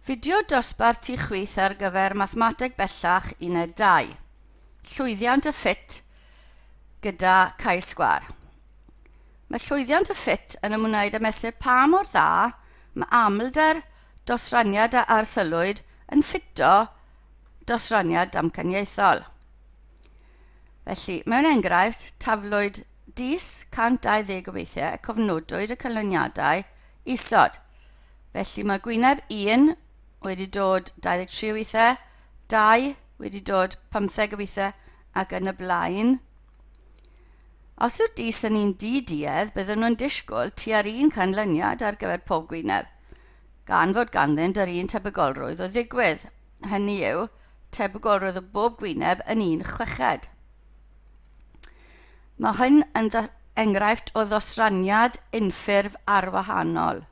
Fideo dosbarth ti chwith ar gyfer Mathemateg Bellach Uned 2. Llwyddiant y ffit gyda Cais Sgwar. Mae llwyddiant y ffit yn ymwneud â mesur pa mor dda mae amlder dosraniad a arsylwyd yn ffito dosraniad damcaniaethol. Felly, mewn enghraifft, taflwyd dis 120 o weithiau y cofnodwyd y canlyniadau isod. Felly mae gwyneb 1 wedi dod 23 o weithiau, 2 wedi dod 15 o weithiau ac yn y blaen. Os yw'r dis yn un di-duedd, byddwn nhw'n disgwyl tua'r un canlyniad ar gyfer pob gwyneb, gan fod ganddynt yr un tebygolrwydd o ddigwydd, hynny yw, tebygolrwydd o bob gwyneb yn un chweched. Mae hyn yn enghraifft o ddosraniad unffurf arwahanol.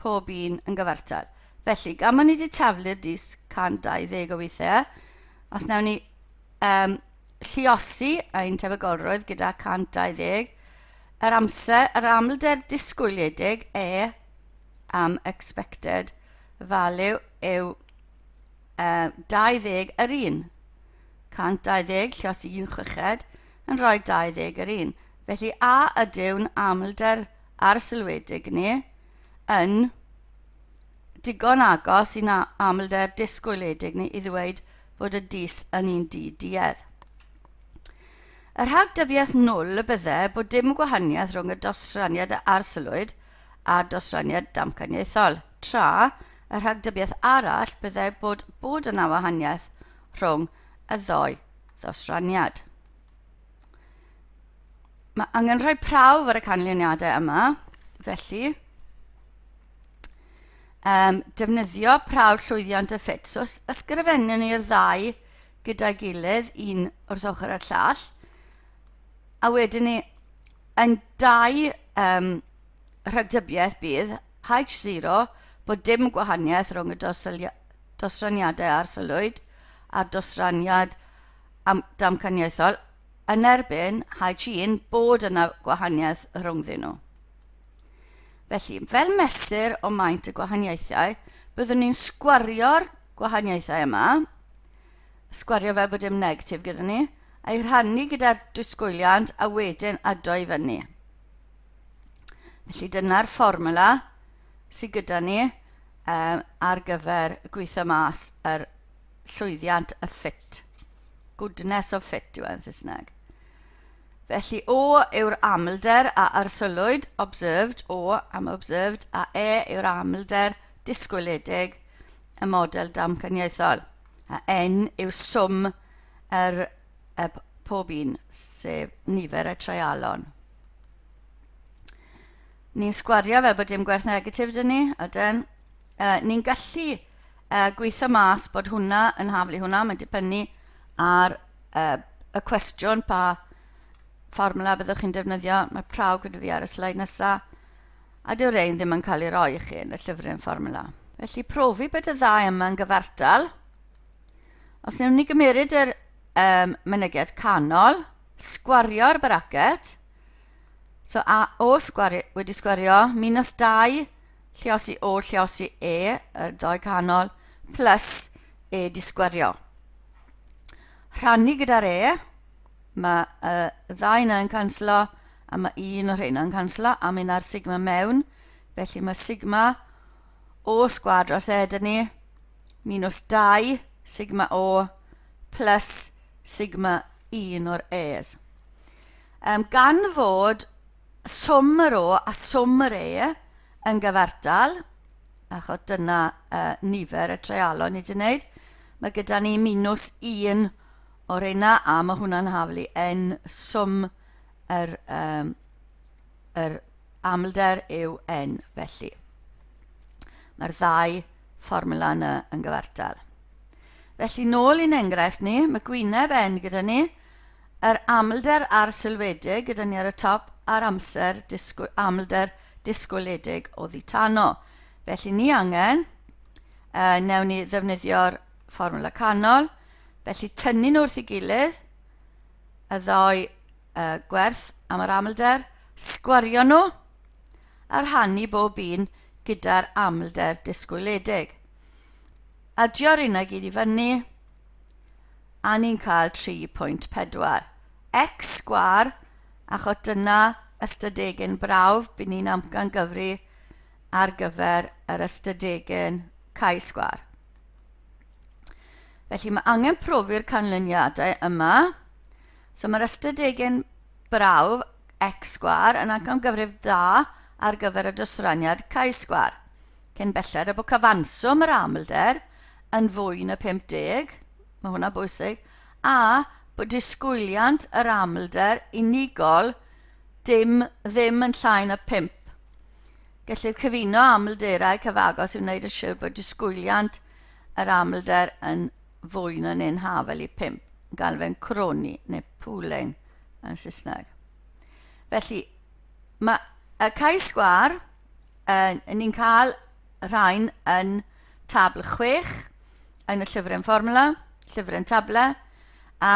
pob un yn gyfartal. Felly, gan bod ni wedi taflu'r dis 120 o weithiau, os newn ni um, lliosi ein tebygolrwydd gyda 120, yr amser, yr amlder disgwyliedig e am expected value yw uh, 20 yr un. 120 lliosi un chweched yn rhoi 20 yr un. Felly a ydyw'n amlder arsylwedig neu yn digon agos i'n amlder disgwyliedig ni i ddweud fod y dys yn un du duedd. Y rhagdybiaeth nwl y bydde bod dim gwahaniaeth rhwng y dosraniad a arsylwyd a dosraniad damcaniaethol, tra y rhagdybiaeth arall bydde bod bod yna wahaniaeth rhwng y ddou ddosraniad. Mae angen rhoi prawf ar y canlyniadau yma, felly um, defnyddio prawf llwyddiant y ffit. So ysgrifennu ni'r ddau gyda'i gilydd, un wrth ochr y llall, a wedyn ni yn dau um, rhagdybiaeth bydd H0 bod dim gwahaniaeth rhwng y dosraniadau arsylwyd a'r dosraniad am damcaniaethol yn erbyn Hai Chin bod yna gwahaniaeth rhwngddyn nhw. Felly, fel mesur o maint y gwahaniaethau, byddwn ni'n sgwario'r gwahaniaethau yma, sgwario fel bod dim negatif gyda ni, a'i rhannu gyda'r disgwyliant a wedyn ado i fyny. Felly dyna'r fformula sydd gyda ni um, ar gyfer gweithio mas yr llwyddiant y ffit. Goodness of fit yw e yn Saesneg. Felly O yw'r amlder a arsylwyd, observed, O am observed, a E yw'r amlder disgwyledig y model damcaniaethol. A N yw swm yr, y pob un, sef nifer y treialon. Ni'n sgwario fel bod dim gwerth negatif dyn ni, ydyn. Uh, ni'n gallu uh, gweithio mas bod hwnna yn haflu hwnna, mae'n dibynnu ar uh, y cwestiwn pa fformula byddwch chi'n defnyddio. Mae praw gyda fi ar y sleid nesaf, a dyw rein ddim yn cael ei roi i chi yn y llyfryn fformula. Felly profi bod y ddau yma yn gyfartal. Os newn ni gymeryd yr um, mynediad canol, sgwario'r bracket, so a o sgwari, wedi sgwario, minus 2, Lleosi O lleosi E yr ddoe canol plus E disgwerio. Rhannu gyda'r E, mae y ddau yna yn canslo a mae un o'r rhain yn canslo a mae yna'r sigma mewn, felly mae sigma O sgwad dros E dyn ni, minus 2 sigma O plus sigma un o'r E's. Um, gan fod swm yr O a swm yr E yn gyfartal, achos dyna uh, nifer y treialon ni wedi wneud, mae gyda ni minws 1 o'r reina a mae hwnna'n haflu yn swm yr, um, yr amlder yw n. Felly, mae'r ddau fformula yna yn gyfartal. Felly, nôl i'n enghraifft ni, mae gwyneb n gyda ni, Yr amlder arsylwedig gyda ni ar y top a'r amser disgwy, amlder disgwyliedig oddi tano. Felly ni angen, uh, newn ni ddefnyddio'r fformwla canol, felly tynnu nhw wrth i gilydd, y ddau uh, gwerth am yr amlder, sgwario nhw, a rhannu bob un gyda'r amlder disgwyliedig. Adio'r unau gyd i fyny, a ni'n cael 3.4 x sgwâr achos dyna ystadegyn brawf by' ni'n amcangyfri ar gyfer yr ystadegyn chi-sgwâr. Felly mae angen profi'r canlyniadau yma. So mae'r ystadegyn brawf x sgwâr yn amcangyfrif dda ar gyfer y dosraniad chi-sgwâr. Cyn belled a bod cyfanswm yr amlder yn fwy na 50, mae hwnna'n bwysig, a bod disgwyliant yr amlder unigol dim ddim yn llai na 5. Gellir cyfuno amlderau cyfagos i wneud yn siŵr bod disgwyliant yr amlder yn fwy na neu'n hafel i 5, yn gael fe'n croni neu pooling yn Saesneg. Felly, mae y cae sgwar uh, ni'n cael rhain yn tabl 6 yn y llyfryn fformula, llyfryn table, a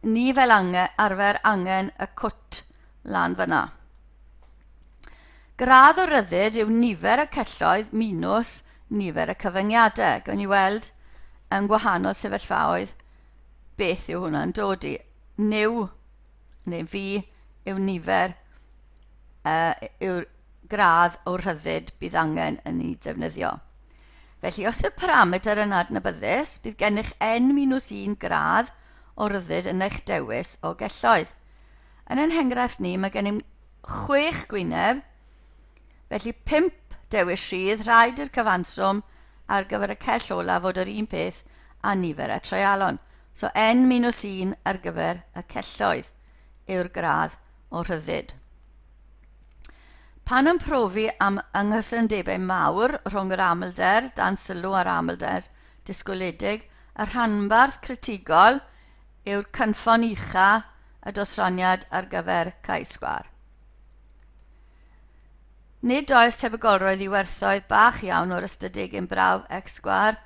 ni fel angen, arfer angen y cwt lan fyna. Gradd o ryddid yw nifer y celloedd minus nifer y cyfyngiadau. Gawn ni weld yn gwahanol sefyllfaoedd beth yw hwnna'n dod i. New neu fi yw nifer y, yw'r gradd o rhyddid bydd angen yn ei ddefnyddio. Felly, os yw'r parametr yn adnabyddus, bydd gennych N-1 gradd o ryddid yn eich dewis o gelloedd. Yn ein henghraifft ni, mae gennym chwech gwyneb, Felly pump dewis rhydd, rhaid i'r cyfanswm ar gyfer y cell olaf fod yr un peth a nifer y treialon. So n minus 1 ar gyfer y celloedd yw'r gradd o rhyddid. Pan yn profi am ynghysyndebau mawr rhwng yr amlder dan sylw a'r amlder disgwyledig, y rhanbarth critigol yw'r cynffon ucha y dosraniad ar gyfer cae sgwar. Nid oes tebygolrwydd i werthoedd bach iawn o'r ystydig yn brawf x sgwâr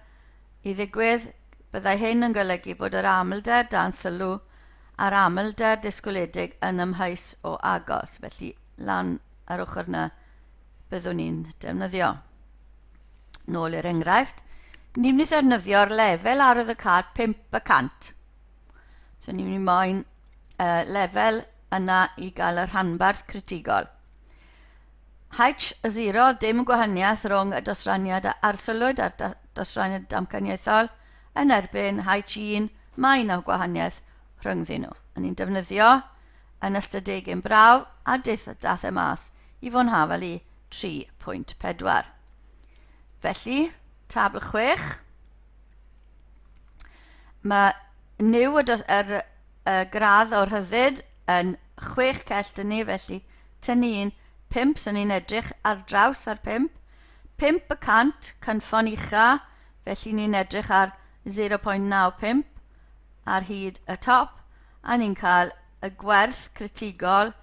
i ddigwydd, byddai hyn yn golygu bod yr amlder dan sylw a'r amlder disgwyliedig yn amheus o agos, felly lan ar ochr yna byddwn ni'n defnyddio. Nôl i'r enghraifft, ni'n mynd i ddefnyddio'r lefel arwydd y cad 5 y cant. So ni'n mynd i moyn uh, lefel yna i gael y rhanbarth critigol. H0, dim gwahaniaeth rhwng y dosraniad a arsyllwyd a'r dosraniad damcaniaethol yn erbyn H1, mae yna gwahaniaeth rhyngddyn nhw. A ni'n defnyddio yn ystadeg yn braf a deith dath e mas i fo'n hafel i 3.4. Felly, tabl 6, Mae new y, dos, yr, y gradd o rhyddid yn chwech cell dyn ni, felly tynnu un pump, so ni'n edrych ar draws ar pump. Pump y cant, cynffon ucha, felly ni'n edrych ar 0.95 ar hyd y top, a ni'n cael y gwerth critigol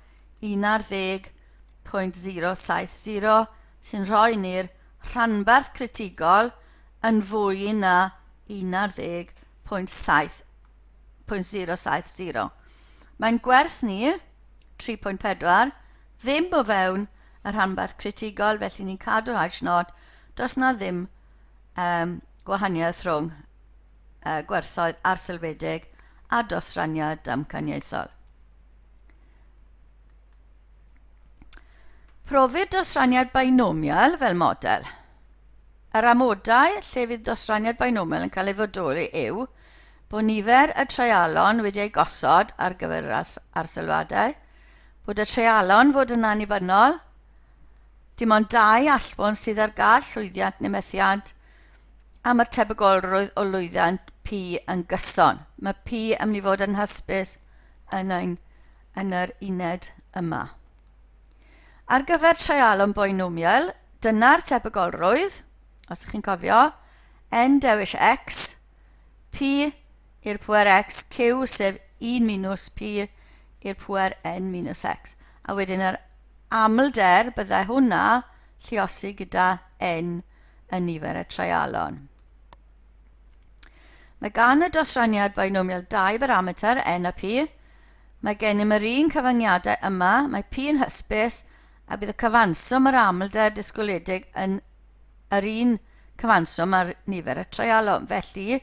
11.070 sy'n rhoi ni'r rhanbarth critigol yn fwy na 11.770. Mae'n gwerth ni, 3.4, ddim o fewn y rhanbarth critigol, felly ni'n cadw hash nod, does na ddim um, gwahaniaeth rhwng uh, gwerthoedd arselfedig a dosraniad damcaniaethol. Profir dosraniad binomial fel model. Yr amodau lle fydd dosraniad binomial yn cael ei fodoli yw bod nifer y treialon wedi ei gosod ar gyfer yr arsylwadau, bod y treialon fod yn annibynnol, dim ond dau allbwn sydd ar gael llwyddiant neu methiant, am yr tebygolrwydd o lwyddiant P yn gyson. Mae P yn mynd i fod yn hysbys yn ein yn yr uned yma. Ar gyfer treialon boenwmiael, dyna'r tebygolrwydd, os ydych chi'n cofio, n dewis x, p i'r pwer x, q sef 1 minus p i'r pwer n minus x. A wedyn yr amlder byddai hwnna lliosi gyda n yn nifer y treialon. Mae gan y dosraniad binomial 2 barameter, n a p. Mae gennym yr un cyfyngiadau yma, mae p yn hysbys, a bydd y cyfanswm yr amlder disgwyliedig yn yr un cyfanswm ar nifer y treialon. Felly,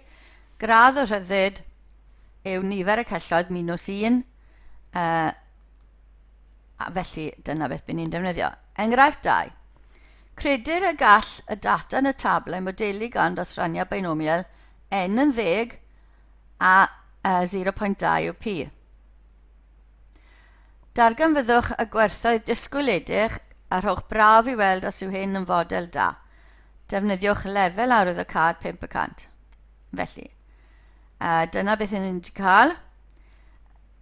gradd y rhyddid yw nifer y celloedd minus 1, uh, a felly dyna beth bydd ni'n defnyddio. Enghraifft 2. Credir y gall y data yn y tablau modelu gan ddosraniad beinomial n yn ddeg a 0.2 yw pi. Darganfyddwch y gwerthoedd disgwyledig a rhowch braf i weld os yw hyn yn fodel da. Defnyddiwch lefel arwydd y cad 500. Felly, a dyna beth ni'n wedi cael.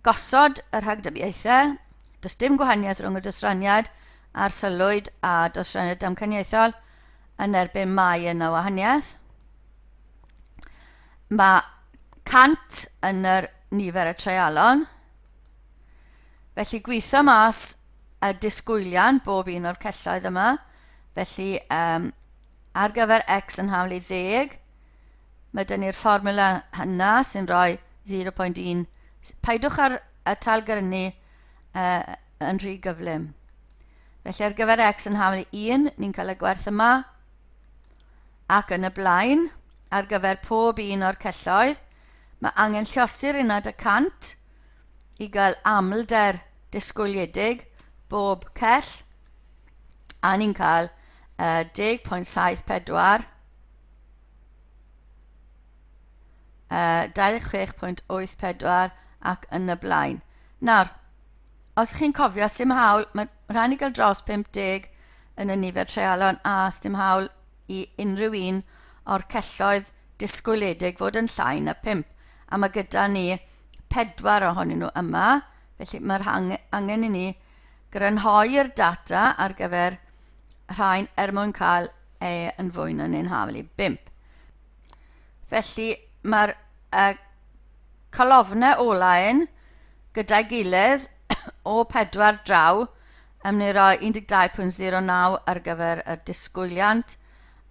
Gosod y rhagdybiaethau, does dim gwahaniaeth rhwng y dysraniad arsylwyd a dosrennir damcaniaethol yn erbyn mai yna wahaniaeth. Mae 100 yn yr nifer y treialon. Felly gweithio mas y disgwylian bob un o'r celloedd yma. Felly um, ar gyfer x yn hawl i ddeg, mae dyn ni'r fformula hynna sy'n rhoi 0.1. Paidwch ar y talgrynu uh, yn rhy gyflym. Felly ar gyfer x yn hawl 1, ni'n cael y gwerth yma, ac yn y blaen, ar gyfer pob un o'r celloedd, mae angen llosur uned y cant i gael amlder disgwyliedig bob cell, a ni'n cael uh, 10.74, uh, 26.84 ac yn y blaen. Nawr, os chi'n cofio, sy'n hawl, mae rhaid ni gael dros 50 yn y nifer treialon a sy'n hawl i unrhyw un o'r celloedd disgwyliedig fod yn llai na 5. A mae gyda ni pedwar ohonyn nhw yma, felly mae'r angen i ni grynhoi'r data ar gyfer rhain er mwyn cael e yn fwy na neu'n hawl i 5. Felly mae'r uh, calofnau o-lein gyda'i gilydd o pedwar draw yn mynd i roi 12.09 ar gyfer y disgwyliant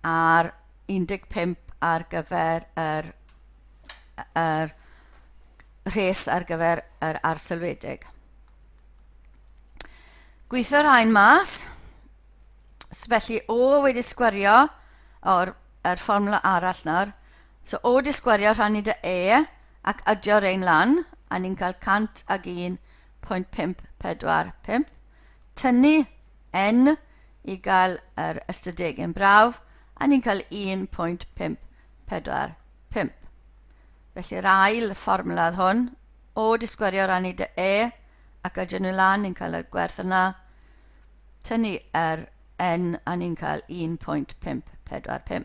a'r 15 ar gyfer yr, yr rhes ar gyfer yr arselwedig. Gweithio rhain mas, felly o wedi sgwario o'r er fformwla arall nawr, So o di sgwario rhannu dy E ac adio rein lan, a ni'n cael 101.545, tynnu N i gael yr ystadegyn brawf, a ni'n cael 1.545. Felly'r ail fformula oedd hwn, o di sgwario rannu dy E ac adio nhw lan, ni'n cael y gwerth yna, tynnu yr N a ni'n cael 1.545.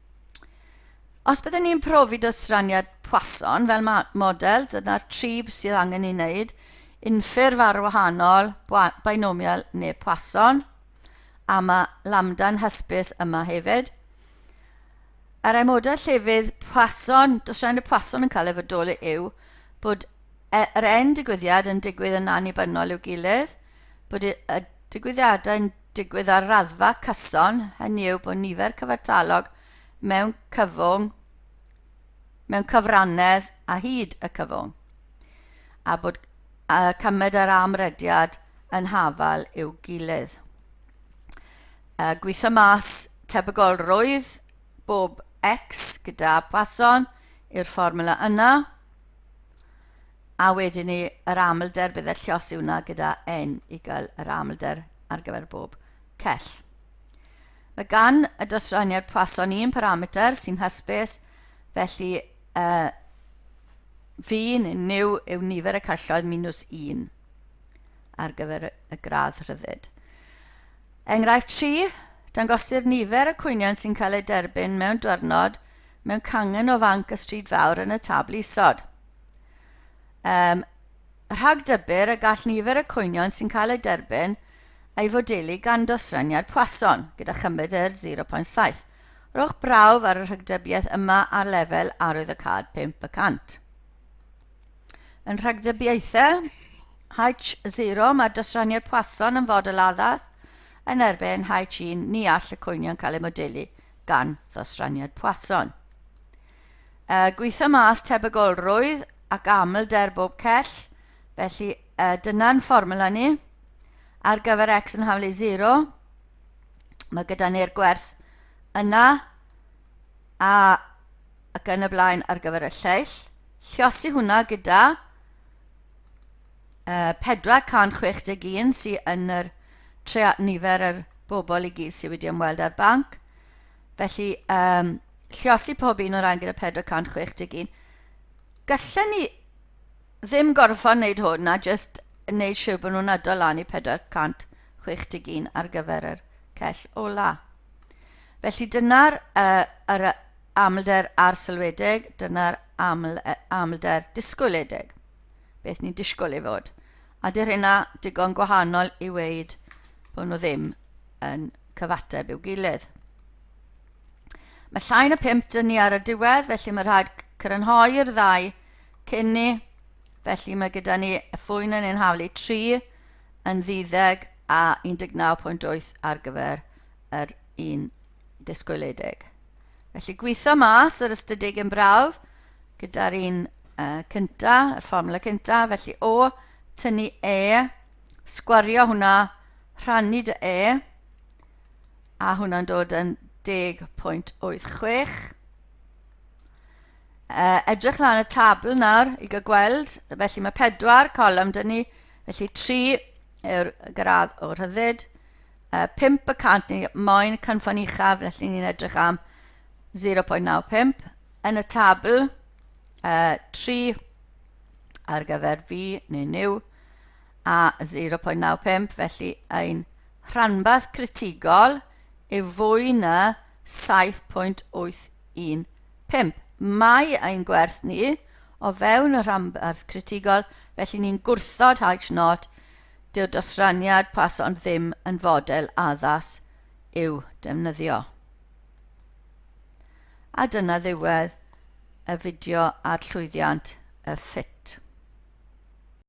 Os byddwn ni'n profi dosraniad pwason fel model, dyna'r tri sydd angen ei wneud, unffurf ar wahanol, binomial neu pwason, a mae lambda'n hysbys yma hefyd. Ar ei model llefydd pwason, dosraniad pwason yn cael ei fodoli yw bod e, yr en digwyddiad yn digwydd yn annibynnol i'w gilydd, bod y digwyddiadau'n digwydd ar raddfa cyson, hynny yw bod nifer cyfartalog mewn cyfwng mewn cyfrannedd a hyd y cyfwng, a bod y cymed a'r amrediad yn hafal i'w gilydd. Y gweitha mas tebygolrwydd bob X gyda Poisson yw'r fformula yna. a wedyn ni yr amlder bydd y llosi hwnna gyda n i gael yr amlder ar gyfer bob cell. Mae gan y dosraniad Poisson un parameter sy'n hysbys, felly uh, fi neu new yw nifer y celloedd minus 1 ar gyfer y gradd rhyddid. Enghraifft 3, dangosir nifer y cwynion sy'n cael eu derbyn mewn diwrnod mewn cangen o fanc y stryd fawr yn y tabl isod. Um, rhag dybur y gall nifer y cwynion sy'n cael eu derbyn ei fodelu gan dosraniad Poisson, gyda chymryd yr 0.7. Rhowch brawf ar y rhagdybiaeth yma ar lefel arwydd y cad 5%. Yn rhagdybiaethau H0 mae'r dosraniad Poisson yn fodel addas yn erbyn H1 ni all y cwynion cael eu modelu gan ddosraniad Poisson. Y gweitha mas tebygolrwydd ac amlder bob cell, felly y dyna'n fformula ni. Ar gyfer x yn haflu 0, mae gyda ni'r gwerth yna a ac yn y blaen ar gyfer y lleill. Llosi hwnna gyda yy 461 sy yn yr trea nifer yr bobl i gyd sydd wedi ymweld â'r banc. Felly, um, lliosi pob un o ran gyda 461. Gallen ni ddim gorfod wneud hwn a jyst wneud siŵr bod nhw'n adol lan i 461 ar gyfer yr cell ola. Felly dyna'r uh, Amlder arsylwedig, dyna'r aml, amlder disgwyledig. Beth ni'n disgwyl ei fod. A dy'r hynna digon gwahanol i weid bod nhw ddim yn cyfateb i'w gilydd. Mae llai na 5 dyn ni ar y diwedd, felly mae rhaid crynhoi'r ddau cyn ni. Felly mae gyda ni y ffwyn yn ein haflu 3 yn ddiddeg a 19.8 ar gyfer yr un disgwyledig. Felly gweithio mas yr ystadeg yn brawf gyda'r un uh, cynta, y fformula cynta, felly o tynnu e, sgwario hwnna, rhannu dy e, a hwnna'n dod yn 10.86. Uh, edrych lan y tabl nawr i gael gweld, felly mae pedwar colum dyn ni, felly tri yw'r gradd o rhyddid, uh, 5 y cant ni moyn cynffon uchaf, felly ni'n edrych am 0.95. Yn y tabl, uh, 3 ar gyfer fi neu new, a 0.95, felly ein rhanbarth critigol yw fwy na 7.815. Mae ein gwerth ni o fewn y rhanbarth critigol, felly ni'n gwrthod H naught Dyw dosraniad pason ddim yn fodel addas i'w defnyddio. A dyna ddiwedd y fideo ar llwyddiant y ffit.